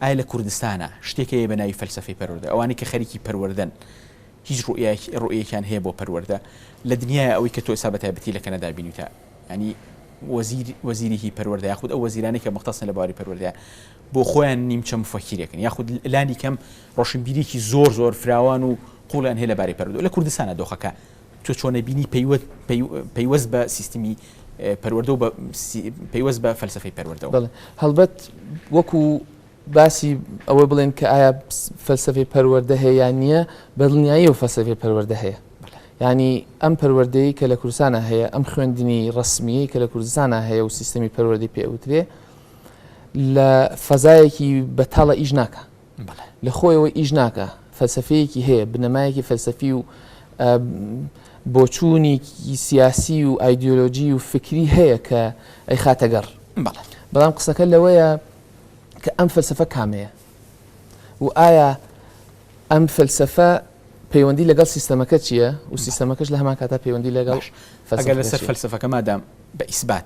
ئایا لە کوردستانا شتێک هەیە بە ناوی فەلسەفەی پەروەردە؟ ئەوانەی کە خەریکی پەروەردەن هیچ ڕوئیایەکی ڕوئیەکیان هەیە بۆ پەروەردە لە دنیایا ئەوەی کە تۆ ئێستا بە تایبەتی لە کەنەدا بینیوتە یانی وەزیر وەزیری هی پەروەردە یاخود ئەو وەزیرانەی کە مەختەسن لە بواری پەروەردە بۆ خۆیان نیمچە مفەکیرێکن یاخود لانی کەم ڕۆشنبیریکی زۆر زۆر فراوان و قوڵیان هەیە لە بارەی پەروەردە لە کوردستانا دۆخەکە تۆ چۆن ئەبینی پەیوەست بە سیستمی پەروەردە و پەیوەست بە فەلسفەی پەروەردەوە بڵێ هەڵبەت وەکو باسی ئەوە بڵێن کە ئایا فەلسفەی پەروەردە هەیە یان نییە بەدڵنیایی و فەلسفەی پەروەردە هەیە ینی ئەم پەروەردەی کە لە کوردستانە هەیە ئەم خوێندنی ڕسمیی کە لە کوردستانە هەیە و سیستەمی پەروەردەی پێوترێ لە فەزایەکی بەتاڵە ئیش ناکە بەڵێ لە خۆیەوە ئیش ناکا فەلسەفەیەکی هەیە بنەمایەکی فەلسەفی و بۆچوونیکی سیاسی و ئایدۆلۆژی و فکری هەیە کە ئەی خاتە گەڕ بەڵام قسەکە لەوەیە کە ئەم فەلسەفە کامەیە و ئایا ئەم فەلسەفە پەیوەندی لەگەڵ سیستەمەکە چییە و سیستەمەکەش لە هەمان کاتا پەیوەندی لەگەڵ فەلسەفە لەسەر فەلسەفەکە مادام بە ئیسبات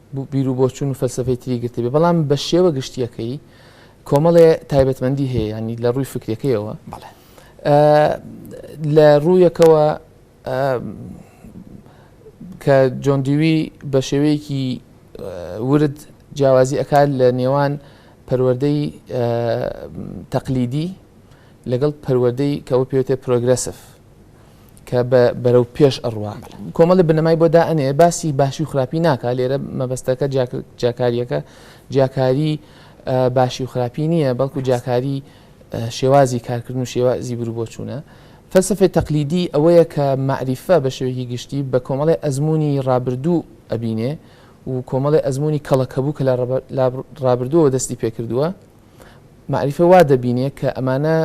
بیروبۆچوون و فەلسەفەی تری گرتبێ، بەڵام بە شێوە گشتییەکەی کۆمەڵێ تایبەتمەندی هەیە، یانی لە ڕووی فکرەکەیەوە لە ڕوویەکەوە کە جۆن دیوی بە شێوەیەکی ورد جیاوازی ئەکات لە نێوان پەروەدەی تەقلیدی لەگەڵ پەروەدەی کەەوە پێێتێ پرۆگرسف کە بە بەرەو پێش ئەڕوا کۆمەڵی بنەمای بۆ دا ئەنێ باسی باشی و خراپی ناکە لێرە مەبەستەکە جیاکاریەکە جیاکاری باشی و خراپی نییە بەڵکو جیاکاری شێوازی کارکردن و شێوازی برو بۆ چوونە فەلسفەی تەقلیدی ئەوەیە کە معریفە بە شێوەیەکی گشتی بە کۆمەڵی ئەزمموی ڕابردوو ئەبینێ و کۆمەڵی ئەزمموی کەڵەکەبوو کە لە ڕابردووەوە دەستی پێکردووە مەعریفە وا دەبینێ کە ئەمانە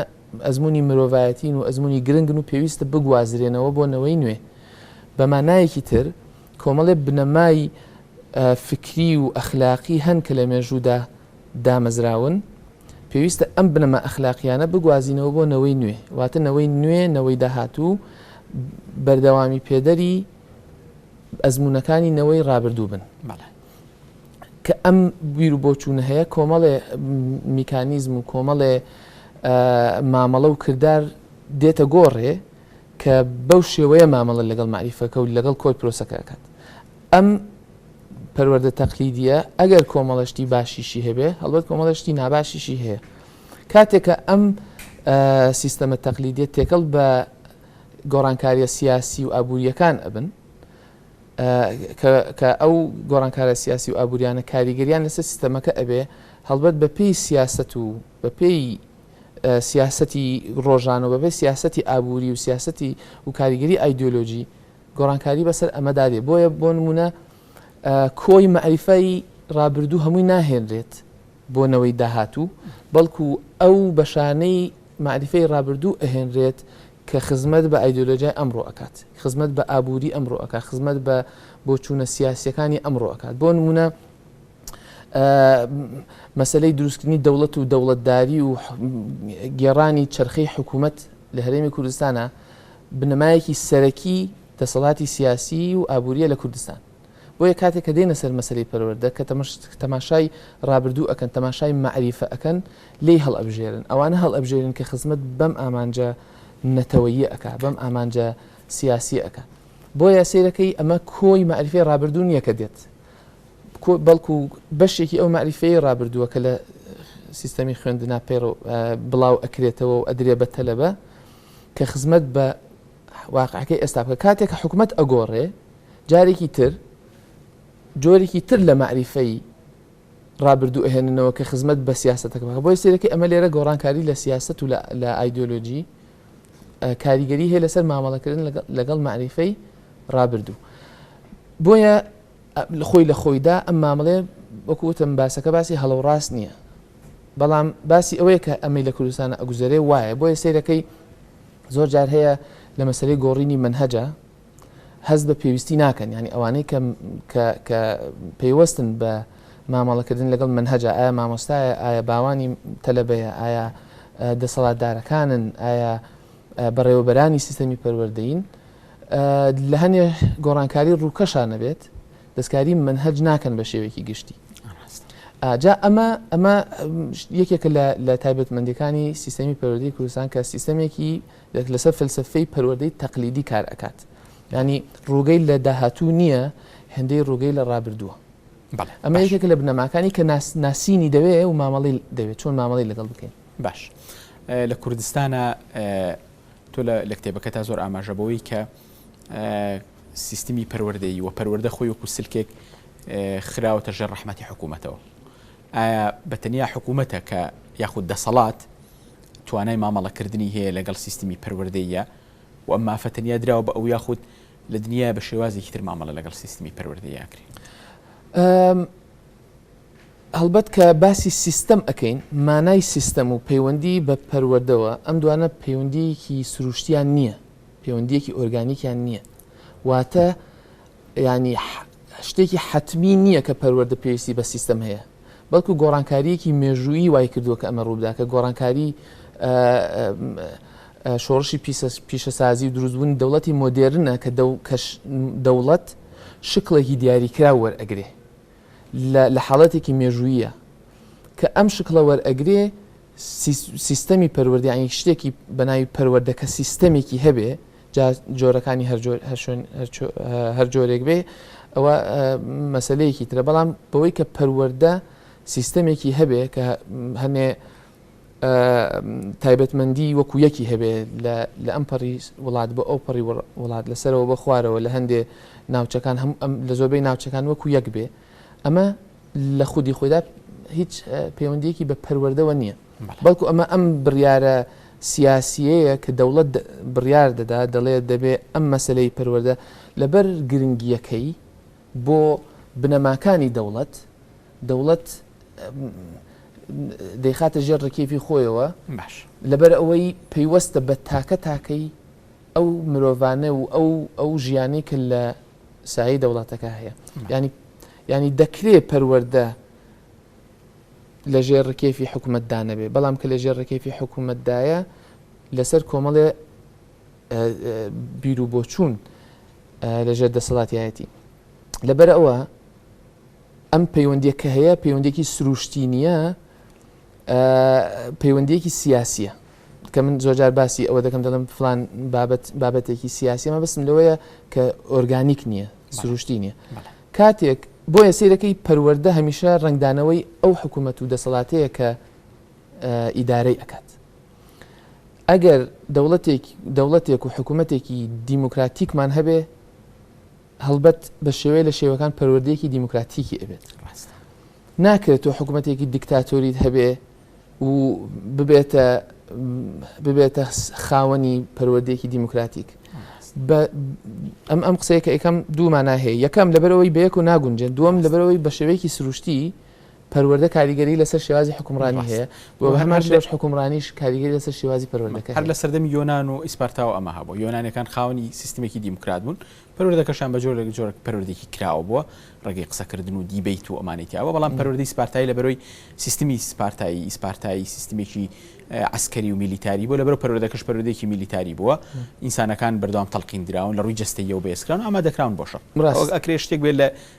ئەزموونی مرۆڤایەتین و ئەزموونی گرنگن و پێویستە بگوازرێنەوە بۆ نەوەی نوێ. بە مانایەکی تر، کۆمەڵێ بنەمای فیکری و ئەخلاقی هەن کە لە مێژوودا دامەزراون، پێویستە ئەم بنەما ئەخلاقییانە بگوازینەوە بۆ نەوەی نوێ، واتە نەوەی نوێ، نەوەی داهاتوو، بەردەوامیپێدەری ئەزموونەکانی نەوەی ڕابردوو بن. کە ئەم بیر و بۆچوونە هەیە کۆمەڵێ میکانیزم و کۆمەڵێ مامەڵە و کردار دێتە گۆڕێ کە بەو شێوەیە مامەڵە لەگەڵ مەعریفەکە و لەگەڵ کۆی پرۆسەکە ئەکات ئەم پەروەردە تەقلیدیە ئەگەر کۆمەڵەشتی باشیشی هەبێ هەڵبەت کۆمەڵەشتی ناباشیشی هەیە کاتێکە ئەم سیستەمە تەقلیدیە تێکەڵ بە گۆڕانکاریە سیاسی و ئابوووریەکان ئەبن کە ئەو گۆڕانکارە سیاسی و ئابووریانە کاریگەریان لەسەر سیستەمەکە ئەبێ هەڵبەت بە پێی سیاسەت و بە پێی سیاسەتی ڕۆژان و بە پێی سیاسەتی ئابووری و سیاسەتی و کاریگەری ئایدۆلۆژی گۆڕانکاری بەسەر ئەمەدا دێ بۆیە بۆ نمونە کۆی مەعریفای ڕابردوو هەمووی ناهێنرێت بۆ نەوەی داهاتوو بەڵکو ئەو بەشانەی مەعریفەی ڕابردوو ئەهێنرێت کە خزمەت بە ئایدیۆلۆژیای ئەمڕۆ ئەکات، خزمەت بە ئابووری ئەمڕۆ ئەکات، خزمەت بە بۆچوونە سیاسییەکانی ئەمڕۆ ئەکات. بۆ نموونە مەسەلەی دروستکردنی دەوڵەت و دەوڵەتداری و گێڕانی چرخەی حکوومەت لە هەرێمی کوردستانە بنەمایەکی سەرەکی دەسەڵاتی سیاسی و ئابووریە لە کوردستان. بۆیە کاتێ کە دێنە سەر مەسەلەی پەروەردە کە تەماشای ڕابردوو ئەکەن تەماشای مەعریفە ئەکەن لێی هەڵئەبژێرن ئەوانە هەڵئەبژێرن کە خزمەت بەم ئامانجە نەتەوەیە ئەکا بەم ئامانجە سیاسی ئەکا بۆیە سیرەکەی ئەمە کۆی مەعریفەی ڕابردوو نییە کە دێت بەڵکو بەشێکی ئەو مەعریفەیە ڕابردووە کە لە سیستەمی خوێندنا پێڕ بڵاو ئەکرێتەوە و ئەدرێ بە تەلەبە کە خزمەت بە واقعەکەی ئێستا بکە کاتێک کە حکومەت ئەگۆڕێ جارێکی تر جۆرێکی تر لە مەعریفەی ڕابردوو ئەهێننەوە کە خزمەت بە سیاستەکە بکە بۆی سێرەکە ئەمە لێرە گۆڕانکاری لە سیاست و لە ئایدۆلۆژی کاریگەری هەیە لەسەر مامەڵەکردن لەگەڵ مەعریفەی ڕابردوو بۆیە خۆی لە خۆیدا ئەم مامەڵەیە وەکو وتم باسەکە باسی هەڵە و ڕاست نییە بەڵام باسی ئەوەیە کە ئەمەی لە کوردستان ئەگوزەرێ وایە بۆیە سەیرەکەی زۆر جار هەیە لە مەسەرەی گۆڕینی منهەجە هەست بە پێویستی ناکەن ینی ئەوانەی کە پەیوەستن بە مامەڵەکردن لەگەڵ منهجە ئایا مامۆستایە ئایا باوانی تەلەبەیە ئایا دەسەڵاتدارەکانن ئایا بەڕێوەبەرانی سیستەمی پەروەردەین لە هەنێ گۆڕانکاری ڕووکەشا نەبێت دەستکاری منهج ناکەن بە شێوێکی گشتی جا ئەمە ئەمە یەکێکە لە تایبەتمەندەکانی سیستەمی پەروەدەی کوردستان کە سیستەمێکی لەسەر فلسفەی پەروەدەی تەقلیدی کار ئەکات ینی ڕووگەی لە داهاتوو نییە هەندەی ڕووگەی لە ڕابردووە ئەمە یەکێکە لە بنەماکانی کە ناسینی دەوێ و مامەڵی دەوێت چۆن مامەڵی لەگەڵ بکەین باش لە کوردستانە تۆ لە لە کتێبەکەتا زۆر ئاماژە بەوەی کە سیستمی پەروەردەیی و پەروەردە خۆی وەکو سلکێک خراوەتە ژێر ڕەحمەتی حکوومەتەوە ئایا بە تەنیا حکوومەتە کە یاخود دەسەڵات توانای مامەڵەکردنی هەیە لەگەڵ سیستمی پەروەردەیە و ئەم مافە تەنیا دراوە بە ئەو یاخود لە دنیا بە شێوازێکی تر مامەڵە لەگەڵ سیستمی پەروەردەیە کرێت هەڵبەت کە باسی سیستەم ئەکەین، مانای سیستەم و پەیوەندیی بە پەروەردەوە، ئەم دوانە پەیوەندییەکی سرووشتییان نییە، پەیوەندییەکی ئۆرگانیکیان نییە. واتە یانی شتێکی حەتمی نییە کە پەروەردە پێویستی بە سیستەم هەیە، بەڵکو گۆڕانکارییەکی مێژوویی وای کردووە کە ئەمە ڕووبدا، کە گۆڕانکاری شۆڕشی پیشەسازی و دروستبوونی دەوڵەتی مۆدێرنە کە دەوڵەت شکڵێکی دیاریکراو وەرئەگرێ. لە لە حاڵەتێکی مێژووییە کە ئەم شکڵە وەرئەگرێ سیستەمی پەروەردە یانی شتێکی بە ناوی پەروەردە کە سیستەمێکی هەبێ جا جۆرەکانی هەر جۆر هەر شوێن هەر جۆرێک بێ ئەوە مەسلەیەکی ترە بەڵام بەوەی کە پەروەردە سیستەمێکی هەبێ کە هەنێ تایبەتمەندی وەکو یەکی هەبێ لە ئەم پەڕی وڵات بۆ ئەو پەڕی وڵات لە سەرەوە بە خوارەوە لە هەندێ ناوچەکان هەم لە زۆربەی ناوچەکان وەکو یەک بێ ئەمە لە خودی خۆدا هیچ پەیوەندیەکی بە پەروەردەوە نییە بەڵکو ئەمە ئەم بڕیارە سیاسیەیە کە دەوڵەت بڕیار دەدا دەڵێ دەبێ ئەم مەسلەی پەروەەردە لەبەر گرنگیەکەی بۆ بنەماکانی دەوڵەت، دەوڵەت دەیخاتە ژێر ڕکێفی خۆیەوە، لەبەر ئەوەی پەیوەستە بە تاکە تاکەی ئەو مرۆڤانە و ئەو ئەو ژیانەی کە لە سایەی دەوڵەتەکە هەیە. یانی یانی دەکرێ پەروەردە لە ژێر ڕکێفی حکوومەتدا نەبێ، بەڵام کە لە ژێر ڕکێفی حکوومەتدایە لەسەر کۆمەڵێ بیروبۆچوون لە ژێر دەسەڵاتیایەتی لەبەر ئەوە ئەم پەیوەندیە کە هەیە پەیوەندێکی سروشتی نییە پەیوەندیەکی سیاسیە کە من زۆجار باسی ئەوە دەکەم دەڵم فلان بابەت بابەتێکی سیاسیمە بەسم لەوەیە کە ئۆرگانیک نییە سروشتی نییە کاتێک بۆ یە سیرەکەی پەروەەردە هەمیشە ڕنگدانەوەی ئەو حکوومەت و دەسەڵاتەیە کە ئیدارەی ئەکات ئەگەر دەوڵەتێک دەوڵەتێک و حکوومەتێکی دیموکراتیکمان هەبێ هەڵبەت بە شێوەیە لە شێوەکان پەروەردەیەکی دیموکراتیکی ئەبێت ڕاستە ناکرێت تۆ حکوومەتێکی دیکتاتۆریت هەبێ و ببێتە ببێتە خاوەنی پەروەردەیەکی دیموکراتیک ئەم ئەم قسەیە کە ئەکەم دوومانە هەیە یەکەم لەبەرەوەی بەیەک و ناگونجێن دووەم لەبەرەوەی بە شێوەیەکی سروشتی پەروەردە کاریگەری لەسەر شێوازی حوکمڕانی ڕاست هەیە و و هە هەرمان هەر لە شێوەش حوکمڕانیش کاریگەری لەسەر شێوازی مە پەروەردەکە هەر لە هەیە. سەردەمی یۆنان و ئیسپارتاوە ئەمە هەبووە یۆنانیەکان خاوەنی سیستمێکی دیموکرات بوون پەروەردەکەشیان بە جۆرێک جۆرێک پەروەردەیەکی کراوە بووە ڕێگەی قسەکردن و دیبەیت و ئەمانەی تیابووە بەڵام م. پەروەردەی سپارتایی لە بەرۆی سیستمی سپارتایی ئیسپارتایی سیستمێکی ە عەسکەری و میلیتاری بووە لە بەرەو پەروەردەکەش پەروەردەیەکی میلیتاری بووە م. ئینسانەکان بەردەوام تەڵقین دراون لە ڕووی جەستەییەوە بەهێزکراون و ئامادەکراون بۆ شەڕ ئەوەک ڕاستە. ئەکرێ شتێک بێت لە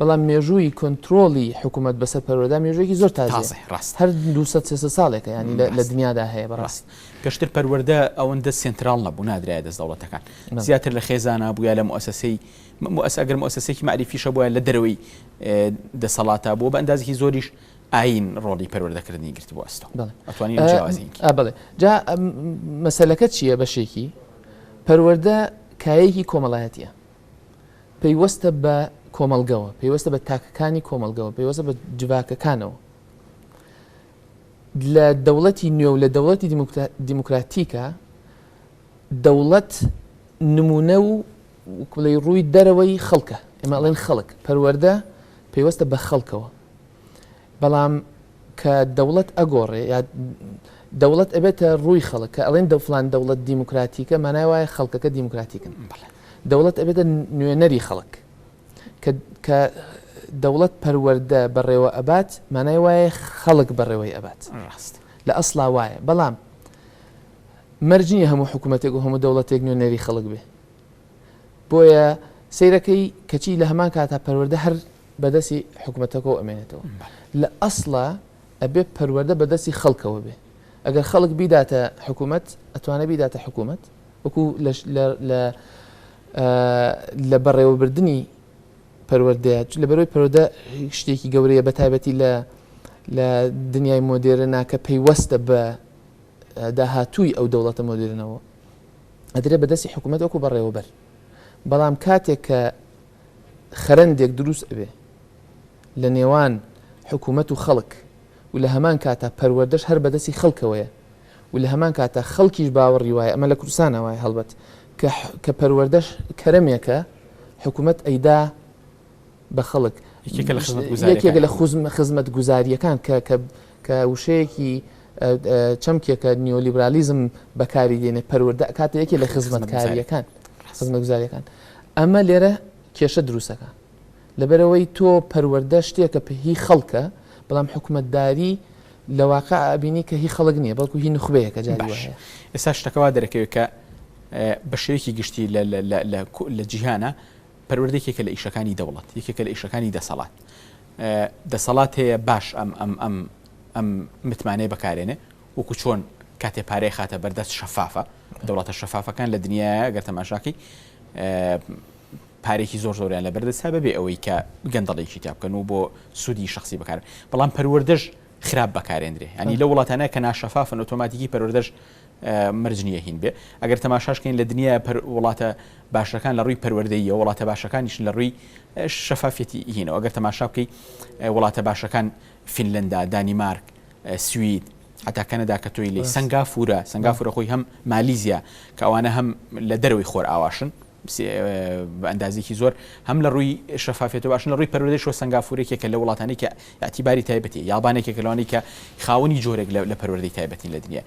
بەڵام مێژووی کۆنترۆڵی حکوومەت بەسەر پەروەردە مێژوویەکی زۆر تازەیە، هەر دوو سەد سێ سەد ساڵێکە یانی لە دنیادا هەیە بەڕاستی. پێشتر پەروەردە ئەوەندە سێنتراڵ نەبوو، نادرایە دەست دەوڵەتەکان، زیاتر لە خێزانا بوو یا لە موئەسەسەی، ئەگەر موئەسەسەیەکی مەعریفیش هەبووایە لە دەرەوەی دەسەڵاتا بوو، بە ئەندازێکی زۆریش ئایین ڕۆڵی پەروەردەکردنی گرتبوو ئەستۆ. ئەتوانی ئەم جیاوازییەن کی. بەڵێ، جا مەسەلەکە چییە بەشێکی، پەروەردە کایەیەکی کۆمەڵایەتییە. پەیوەستە بە کۆمەڵگەوە، پەیوەستە بە تاکەکانی کۆمەڵگەوە، پەیوەستە بە جڤاکەکانەوە. لە دەوڵەتی نوێ و لە دەوڵەتی دیموکراتیکا، دەوڵەت نموونە و بڵێی ڕووی دەرەوەی خەڵکە، ئێمە ئەڵێن خەڵک، پەروەردە پەیوەستە بە خەڵکەوە. بەڵام کە دەوڵەت ئەگۆڕێ یا دەوڵەت ئەبێتە ڕووی خەڵک کە ئەڵێن دە فلان دەوڵەت دیموکراتیکە مانای وایە خەڵکەکە دیموکراتیکن دەوڵەت ئەبێتە نوێنەری خەڵک کە دەوڵەت پەروەردە بەڕێوە ئەبات مانای وایە خەڵک بەڕێوەی ئەبات ڕاست لە ئەسڵا وایە بەڵام مەرج نییە هەموو حکوومەتێک و هەموو دەوڵەتێک نوێنەری خەڵک بێ بۆیە سەیرەکەی کەچی لە هەمان کاتا پەروەردە هەر بەدەسی حکومەتەکەەوە ئەمێنێتەوە لە ئەسڵە ئەبێ پەروەەردە بەدەستی خەڵکەوە بێ ئەگەر خەڵک بیداتە حکوومەت ئەتوانە بیداتە حکوومەت وەکو لە بەڕێوەبردننی پەروەەردەیە لە بەرەوەی پەرۆدە شتێکی گەورەیە بە تایبەتی لە لە دنیای مۆدێرە ناکە پەیوەستە بە داهاتووی ئەو دەوڵەتە مۆدیرنەوە ئەدرێت بە دەستی حکوومەت وەکو بەڕێوەبەر بەڵام کاتێک کە خەرندێک دروست ئەبێ لە نێوان حکوومەت و خەڵک و لە هەمان کاتە پەروەردەش هەر بەدەستی خەڵکەوەیە و لە هەمان کاتە خەڵکیش باوەڕی وایە ئەمە لە کوردستانە وایە هەڵبەت کە پەروەردەش کەرەمێکە حکوومەت ئەیدا بە خەڵک یەکێکە لە خزمەتگوزارییەکان یەکێکە لە خزمەتگوزارییەکان کە کە کە وشەیەکی چەمکێکە نیۆلیبرالیزم بەکاری دێنێ پەروەردە ئەکاتە یەکێ لە خزمەتکارییەکان خزمەتگوزارییەکان ئەمە لێرە کێشە دروستەکە لەبەرەوەی تۆ پەروەردە شتێکە پێهی خەڵکە بەڵام حکومەتداری لە واقع ئابینی کە هی خەڵک نییە بەڵکو هی نخبەیەکە جاری باش ئێستا شتەکەوا دەرەکەوێت کە بە شێوەیەکی گشتی لە جیهانە پەروەردە یەکێکە لە ئیشەکانی دەوڵەت، یەکێکە لە ئیشەکانی دەسەڵات. دەسەڵات هەیە باش ئەم متمانەیە بەکارێنێ، وەکو چۆن کاتێ پارەی خاتە بەردەست شەفافە، دەوڵەتە شەفافەکان لە دنیاە گەر تەماشاکەی پارێکی زۆر زۆریان لە بەردەست هەبێ بێ ئەوەی کە گەندەڵێکی تا بکەن و بۆ سوودی شخصی بکار بەڵام پەروەردەش خراپ بەکارێندرێ ینی لە وڵاتانە کە ناشەفافن ئۆتۆماتیکی پەروەردەش مەرج نییە هین بێ ئەگەر تەماشاش کەین لە دنیا پەر وڵاتە باشەکان لە ڕووی پەروەردەییەوە وڵاتە باشەکانیش لە ڕووی شەفافیەتی هینەوە ئەگەر تەماشا بکەی وڵاتە باشەکان فینلندا دانیمارک سوید حتا کەنەدا کە تۆی لێ سنگافورە سنگافورە خۆی هەم مالیزیا کە ئەوانە هەم لە دەرەوەی خۆر ئاواشن بە ئەندازێکی زۆر هەم لە ڕووی شەفافێت باشن لە ڕووی پەرۆدەشوە سنگافورێکێک کە لە وڵاتانی کە یاعتیباری تایبەتی یابانێکێک لەوانی کە خاوەنی جۆرێک لە پەروەردەی تایبەتین لە دنیا